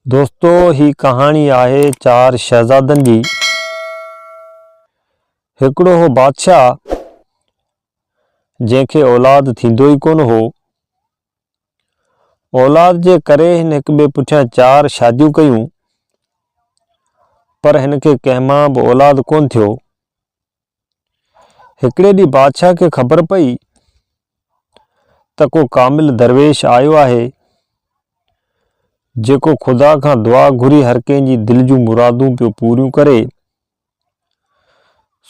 دوستو هي ڪهاڻي آهي چار شهزادن جي هڪڙو هو بادشاهه جنهن کي اولاد ٿيندو ئي ڪونه هو اولاد جي ڪري هن هڪ ٻئي پٺيان چار شاديون ڪيون پر هن کي ڪنهن مان به اولاد ڪونه ٿيو هڪڙي ڏينهن بادشاهه کي خبر پئي ته ڪو ڪامل درويش آيو آهي، جيڪو خدا کان دعا گهري هر ڪنهن جي دل جون مرادون پيو پوريون ڪري.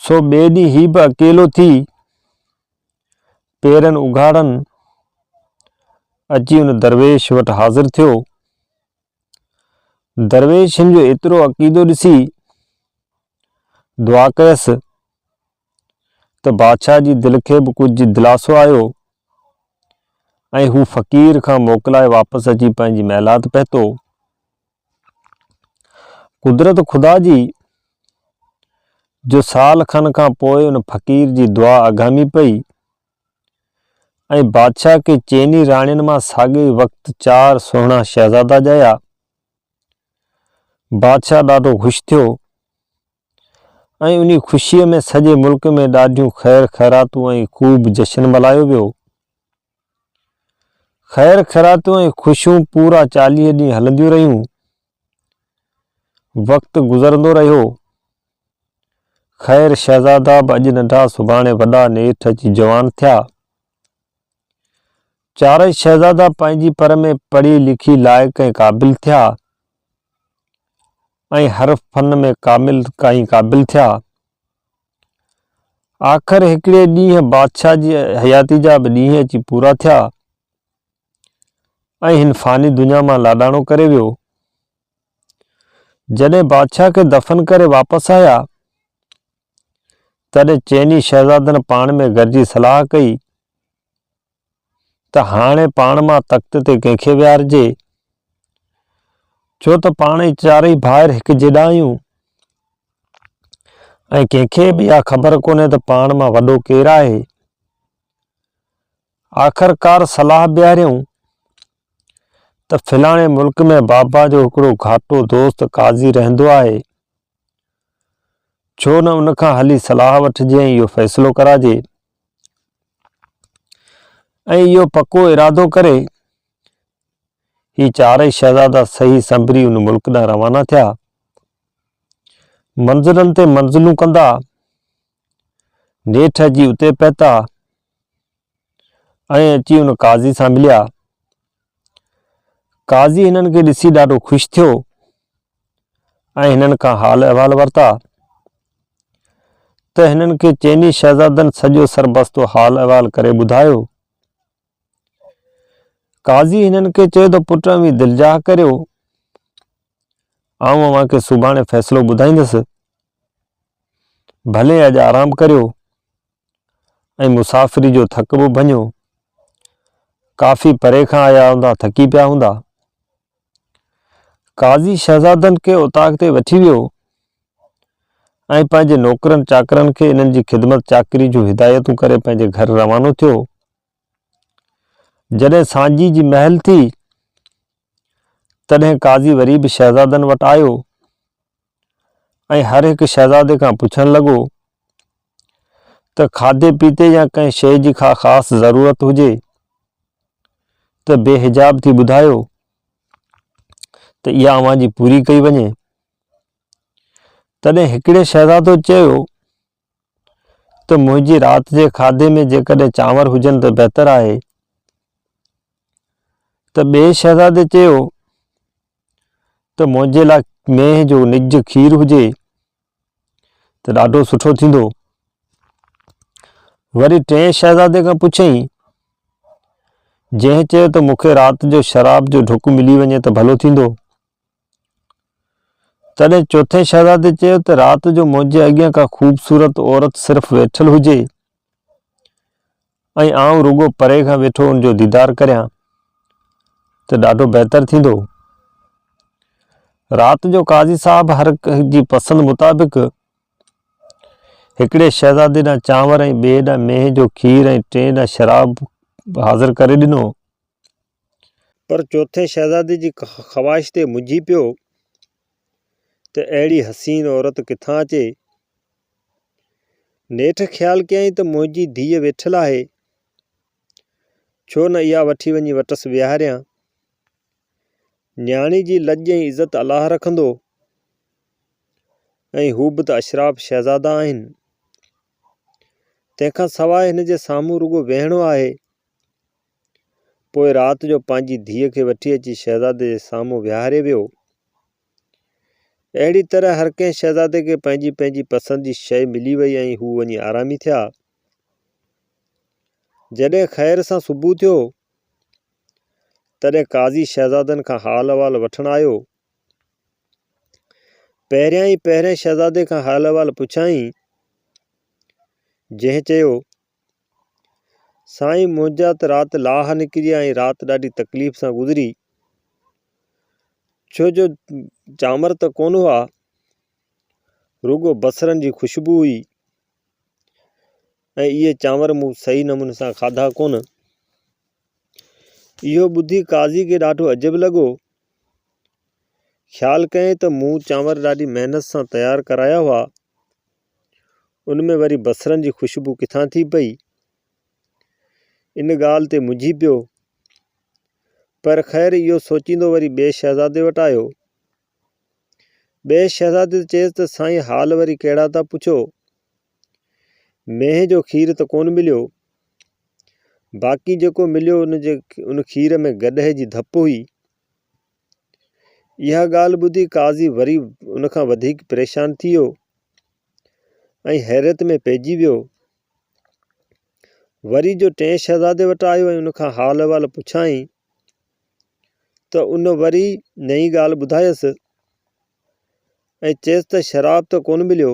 سو ٻئي ڏينهن هي به اڪيلو ٿي پيرن اگهاڙن اچي ان درويش وٽ حاضر ٿيو درويشن جو ايترو عقيدو ڏسي دعا ڪيس ته بادشاهه جي دل کي به ڪجهه دلاسو آيو ۽ هو فقير کان موڪلائي واپس اچي پنهنجي محلات پهتو قدرت خدا جي جو سال کن کان پوء ان فقير جي دعا اگهامي پئي ۽ بادشاهه کي چئني راڻين مان ساڳئي وقت چار سهڻا شهزادا ڄايا. بادشاهه ڏاڍو خوش ٿيو ۽ انهي خوشيء ۾ سڄي ملڪ ۾ ڏاڍيون خير خيراتون ۽ خوب جشن ملهايو ويو. خير خيراتون ۽ خوشيون پورا چاليهه ڏينهن هلنديون رهيون. وقت گذرندو رهيو. خير شهزادا به اڄ ننڍا سڀاڻي وڏا نيٺ اچي جوان ٿيا. چارئي شهزادا پنهنجي پر ۾ پڙهي لکي لائق ۽ قابل ٿيا ۽ هر فن ۾ ڪامل ۽ قابل ٿيا. آخر هڪڙي ڏينهن بادشاهه جي حياتي جا به ڏينهن اچي پورا ٿيا. ۽ هن فاني دنيا مان لاڏاڻو ڪري ويو. جڏهن بادشاهه کي دفن ڪري واپس آيا، تڏهن چئني شهزادن پاڻ ۾ گڏجي صلاح ڪئي ته هاڻي پاڻ مان تخت تي ڪنهن کي ويهارجي، ڇو ته پاڻ ئي چارئي ڀائر هڪ جيڏا آهيون ۽ ڪنهن کي به اها خبر ڪونهي ته پاڻ مان وڏو ڪير آهي. آخرڪار صلاح بيهاريائون ته فلاڻي ملڪ ۾ بابا جو هڪڙو گهاٽو دوست قاضي رهندو آهي، ڇو نه ان کان هلي صلاح وٺجي ۽ اهو فيصلو ڪراجي ۽ اهو پڪو ارادو ڪري هي چارئي شهزادا صحيح سنبري ان ملڪ ڏانهن روانا ٿيا منزلن تي منزلون ڪندا نيٺ اچي اتي پهتا ۽ اچي ان قاضي سان مليا. قاضي هنن کي ڏسي ڏاڍو خوش ٿيو ۽ هنن کان حال احوال ورتا ته هنن کي چئني شهزادن سڄو سربستو حال احوال ڪري ٻڌايو. قاضي هنن کي چيو ته پٽ اوهين دلجاهه ڪريو آئون اوهان کي سڀاڻي فيصلو ٻڌائيندس ڀلي اڄ آرام ڪريو ۽ مسافري جو ٿڪ به ڀڃو ڪافي پري کان آيا هوندا ٿڪي پيا هوندا قاضي شهزادن کي اتاق تي وٺي ويو ۽ پنهنجي نوڪرن چاڪرن کي انهن جي خدمت چاڪري جون هدايتون ڪري پنهنجي گهر روانو ٿيو جڏهن سانجهيء جي مهل ٿي، تڏهن قاضي وري به شهزادن وٽ آيو ۽ هر هڪ شهزادي کان پڇڻ لڳو ته کاڌي پيتي يا ڪنهن شيء جي ڪا خاص ضرورت هجي ته بي حجاب ٿي ٻڌايو ته اها اوهان جي پوري ڪئي وڃي. تڏهن هڪڙي شهزادو چيو ته منهنجي رات جي کاڌي ۾ جيڪڏهن چانور هجن ته بهتر آهي. ته ٻئي شهزادي چيو ته منهنجي لاء مينهن جو نج کير هجي ته ڏاڍو سٺو ٿيندو. وري ٽئين شهزادي کان پڇيائين، جنهن چيو ته مون کي رات جو شراب جو ڍڪ ملي وڃي ته ڀلو ٿيندو. تڏهن چوٿين شهزادي چيو ته رات جو منهنجي اڳيان ڪا خوبصورت عورت صرف ويٺل هجي ۽ آئون رڳو پري کان ويٺو ان جو ديدار ڪريان ته ڏاڍو بهتر ٿيندو. رات جو قاضي صاحب هر ڪنهن جي پسند مطابق هڪڙي شهزادي ڏانهن چانور ۽ ٻئي ڏانهن مينهن جو کير ۽ ٽئين ڏانهن شراب حاضر ڪري ڏنو. پر چوٿين شهزادي جي خواهش تي مجهي پيو ته اهڙي حسين عورت ڪٿان اچي؟ نيٺ خيال ڪيائين ته منهنجي ڌيء ويٺل آهي، ڇو نه اها وٺي وڃي وٽس ويهاريان. نياڻي جي لڄ ۽ عزت الله رکندو ۽ هو به ته اشراف شهزادا آهن. تنهن کان سواء هن جي سامهون رڳو ويهڻو آهي. پوء رات جو پنهنجي ڌيء کي وٺي اچي شهزادي جي سامهون ويهاري ويو. اهڙي طرح هر ڪنهن شهزادي کي پنهنجي پنهنجي پسند جي شيء ملي وئي ۽ هو وڃي آرامي ٿيا. جڏهن خير سان صبح ٿيو، تڏهن قاضي شهزادن کان حال احوال وٺڻ آيو. پهريائين پهرئين شهزادي کان حال احوال پڇيائين، جنهن چيو، سائين منهنجا ته رات لاهه نڪري ۽ رات ڏاڍي تڪليف سان گذري ڇو جو چانور ته ڪونه هئا رڳو بصرن جي خوشبو هئي ۽ اهي چانور مون صحيح نموني سان کاڌا ڪونه اهو ٻڌي قاضي کي ڏاڍو عجب لڳو خيال ڪيائين ته مون چانور ڏاڍي محنت سان تيار ڪرايا هئا ان ۾ وري بصرن جي خوشبو ڪٿان ٿي پئي؟ ان ڳالهه تي منجهي پيو. پر خير اهو سوچيندو وري ٻئي شهزادي وٽ آيو. ٻئي شهزادي ته چيس ته سائين حال وري ڪهڙا ٿا پڇو؟ مينهن جو کير ته ڪونه مليو. باقي جيڪو مليو ان کير ۾ گڏهه جي ڌپ هئي. اها ڳالهه ٻڌي قاضي وري ان کان وڌيڪ پريشان ٿي ويو ۽ حيرت ۾ پئجي ويو. وري جو ٽئين شهزادي وٽ آيو ۽ ان کان حال احوال پڇيائين ته ان وري نئين ڳالهه ٻڌايس ۽ چيس ته شراب ته ڪونه مليو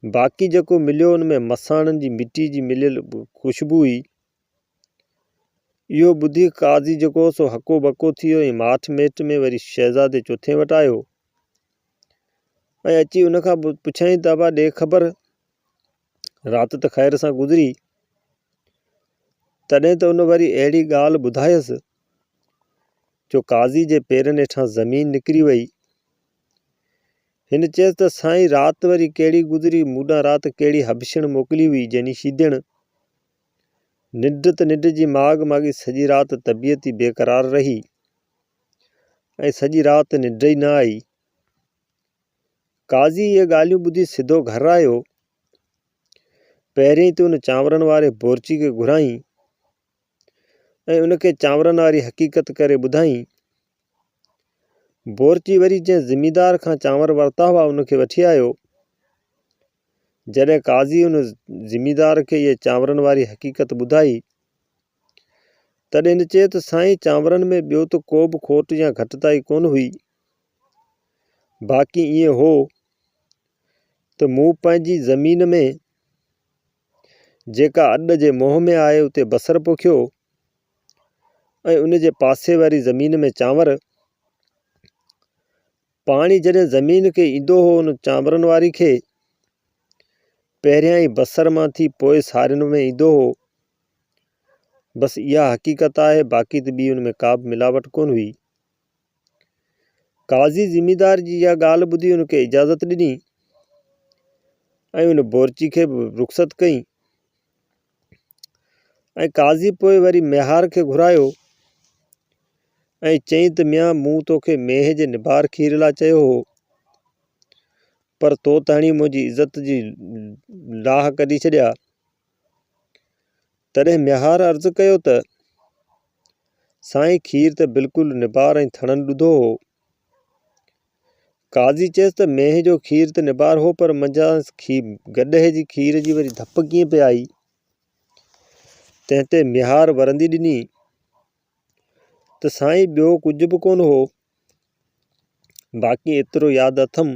باقي جيڪو مليو ان ۾ مساڻن جي مٽي جي مليل خوشبو هئي. اهو ٻڌي قاضي جيڪو هو سو هڪو ٻڪو ٿي ويو ۽ ماٺ ميٽ ۾ وري شهزادي چوٿين وٽ آيو ۽ اچي ان کان پڇيائين ته ابا ڏي خبر رات ته خير سان گذري تڏهن ته ان وري اهڙي ڳالهه ٻڌايس جو قاضي جي پيرن هيٺان زمين نڪري وئي هن چيس ته سائين رات وري ڪهڙي گذري مون ڏانهن رات ڪهڙي هبشڻ موڪلي هئي جني شيدڻ ننڊ ته ننڊ جي ماڳ ماڳي سڄي رات طبيعت ئي بيقرار رهي ۽ سڄي رات ننڊ ئي نه آئي. قاضي اهي ڳالهيون ٻڌي سڌو گهر آيو. پهريائين ته ان چانورن واري بورچي کي گهرائين ۽ ان کي چانورن واري حقيقت ڪري ٻڌائين بورچي وري جنهن زميندار کان چانور ورتا هئا، ان کي وٺي آيو. جڏهن قاضي ان زميندار کي اهي چانورن واري حقيقت ٻڌائي، تڏهن هن چيو ته سائين چانورن ۾ ٻيو ته ڪوبه کوٽ يا گهٽتائي ڪونه هئي، باقي ائين هو ته مون پنهنجي زمين ۾، جيڪا اڏ جي منهن ۾ آهي، اتي بصر پوکيو. ۽ ان جي پاسي واري زمين ۾ چانور. پاڻي جڏهن زمين کي ايندو هو ان چانورن واري کي پهريائين بصر مان ٿي پوء سارين ۾ ايندو هو بس اها حقيقت آهي باقي ته ٻي ان ۾ ڪا به ملاوٽ ڪونه هئي قاضي زميندار جي اها ڳالهه ٻڌي ان کي اجازت ڏني ۽ ان بورچي کي به رخصت ڪيائين ۽ قاضي پوء وري ميهار کي گهرايو ۽ چيائين ته ميان مون توکي مينهن جي نبار کير لا چيو هو پر تو ته هڻي منهنجي عزت جي لاهه ڪڍي ڇڏيا تڏهن ميهار عرض ڪيو ته، سائين کير ته بلڪل نبار ۽ ٿڻن ڏڌو هو. قاضي چيس ته مينهن جو کير ته نبار هو پر منجهانئس گڏهه جي کير جي وري ڌپ ڪيئن پئي آئي؟ تنهن تي ميهار ورندي ڏني ته سائين ٻيو ڪجهه به ڪونه هو باقي ايترو ياد اٿم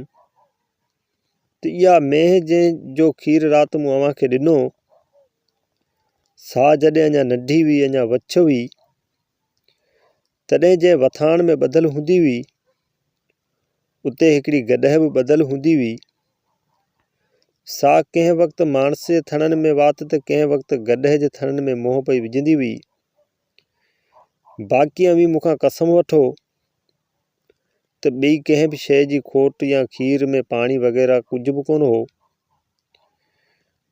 ته اها مينهن جنهن جو کير رات مون اوهان کي ڏنو سا جڏهن اڃا ننڍي هئي اڃا وڇ هئي تڏهن جنهن وٿاڻ ۾ ٻڌل هوندي هئي اتي هڪڙي گڏهه به ٻڌل هوندي هئي سا ڪنهن وقت ماڻس جي ٿڻن ۾ وات ته ڪنهن وقت گڏهه جي ٿڻن ۾ منهن پئي وجهندي هئي باقي اوهين مون کان قسم وٺو ته ٻئي ڪنهن به شيء جي کوٽ يا کير ۾ پاڻي وغيره ڪجهه به ڪونه هو.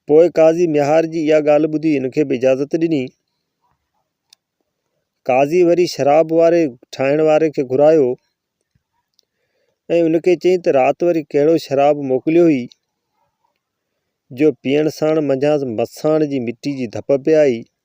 پوء قاضي ميهار جي اها ڳالهه ٻڌي هن کي به اجازت ڏني. قاضي وري شراب واري ٺاهڻ واري کي گهرايو ۽ ان کي چيائين ته رات وري ڪهڙو شراب موڪليو هئي جو پيئڻ ساڻ منجهانئس مساڻ جي مٽي جي ڌپ پئي آئي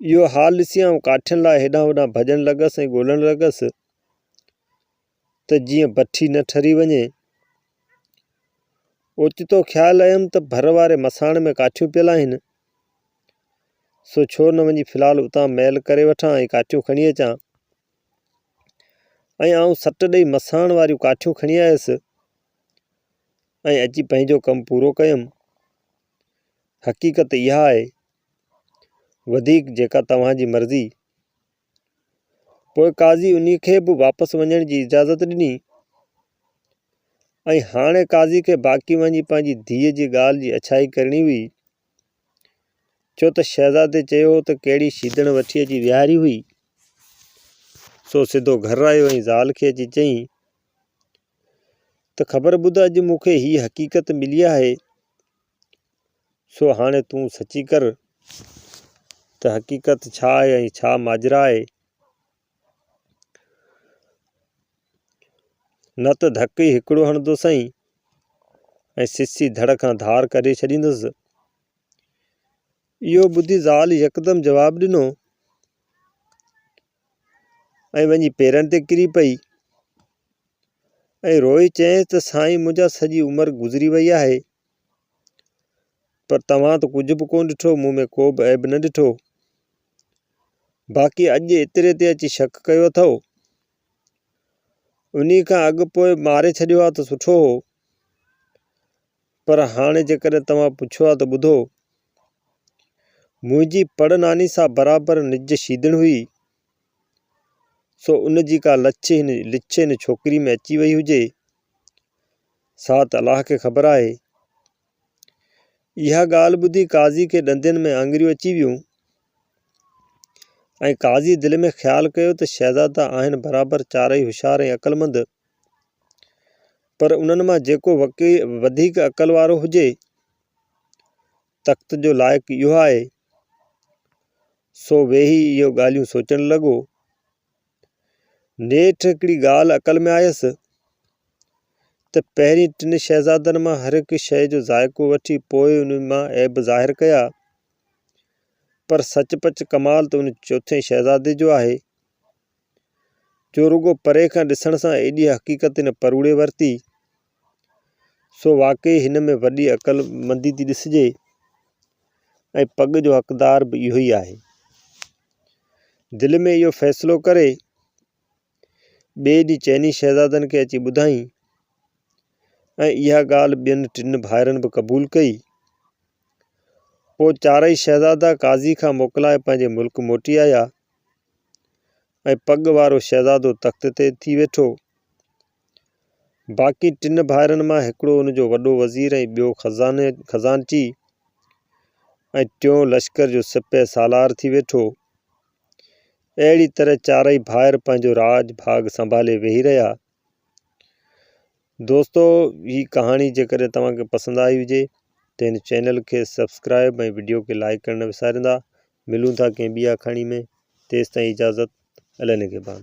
اهو حال ڏسي آئون ڪاٺين لاء هيڏانهن هوڏانهن ڀڄڻ لڳس ۽ ڳولڻ لڳس ته جيئن بٺي نه ٺري وڃي. اوچتو خيال آيم ته ڀر واري مساڻ ۾ ڪاٺيون پيل آهن، سو ڇو نه وڃي في الحال اتان مئل ڪري وٺان ۽ ڪاٺيون کڻي اچان. ۽ آئون سٽ ڏئي مساڻ واريون ڪاٺيون کڻي آيس ۽ اچي پنهنجو ڪم پورو ڪيم. حقيقت اها آهي، وڌيڪ جيڪا توهان جي مرضي. پوء قاضي انهي کي به واپس وڃڻ جي اجازت ڏني ۽ هاڻي قاضي کي باقي وڃي پنهنجي ڌيء جي ڳالهه جي اڇائي ڪرڻي هئي ڇو ته شهزادي چيو هو ته ڪهڙي شيدڻ وٺي اچي ويهاري هئي سو سڌو گهر آيو ۽ زال کي اچي چيائين ته خبر ٻڌ اڄ مون کي هيء حقيقت ملي آهي، سو هاڻي تون سچي ڪر ته حقيقت ڇا آهي ۽ ڇا ماجرا آهي. نه ته ڌڪ ئي هڪڙو هڻندوسئين ۽ سسي ڌڙ کان ڌار ڪري ڇڏيندس. اهو ٻڌي زال يڪدم جواب ڏنو. ۽ وڃي پيرن تي ڪري پئي ۽ روئي چيائينس ته سائين منهنجا سڄي عمر گذري وئي آهي پر توهان ته ڪجهه به ڪونه ڏٺو مون ۾ ڪو به عيب نه ڏٺو باقي اڄ ايتري تي اچي شڪ ڪيو اٿو انهي کان اڳ پوء ماري ڇڏيو ها ته سٺو هو پر هاڻي جيڪڏهن توهان پڇو ها ته ٻڌو منهنجي پڙ ناني سان برابر نج شيدڻ هئي، سو ان جي ڪا لڇ هن ڇوڪري ۾ اچي وئي هجي، سا ته الله کي خبر آهي. اها ڳالهه ٻڌي قاضي کي ڏندين ۾ آڱريون اچي ويون ۽ قاضي دل ۾ خيال ڪيو ته شهزادا آهن برابر چارئي هوشيار ۽ عقلمند، پر انهن مان جيڪو وڌيڪ عقل وارو هجي، تخت جو لائق اهو آهي. سو ويهي اهو ڳالهيون سوچڻ لڳو. نيٺ هڪڙي ڳالهه عقل ۾ آيس ته پهرين ٽن شهزادن مان هر هڪ شيء جو ذائقو وٺي پوء ان مان عيب ظاهر ڪيا. پر سچ پچ ڪمال ته ان چوٿين شهزادي جو آهي، جو رڳو پري کان ڏسڻ سان ايڏي حقيقت هن پروڙي ورتي، سو واقعي هن ۾ وڏي عقل مندي ٿي ڏسجي ۽ پڳ جو حقدار به اهو ئي آهي. دل ۾ اهو فيصلو ڪري ٻئي ڏينهن چئني شهزادن کي اچي ٻڌائين ۽ اها ڳالهه ٻين ٽن ڀائرن به قبول ڪئي. پوء چارئي شهزادا قاضي کان موڪلائي پنهنجي ملڪ موٽي آيا ۽ پڳ وارو شهزادو تخت تي ٿي ويٺو. باقي ٽن ڀائرن مان هڪڙو ان جو وڏو وزير ۽ ٻيو خزانچي ۽ ٽيون لشڪر جو سپهه سالار ٿي ويٺو. اهڙي طرح چارئي ڀائر پنهنجو راڄ ڀاڳ سنڀالي ويهي رهيا. دوستو هي ڪهاڻي جيڪڏهن توهان کي پسند آئي هجي ته هن چينل کي سبسڪرائب ۽ وڊيو کي لائڪ ڪرڻ نه وساريندا ملون ٿا ڪنهن ٻي آکاڻي ۾ تيستائين اجازت النگهبان.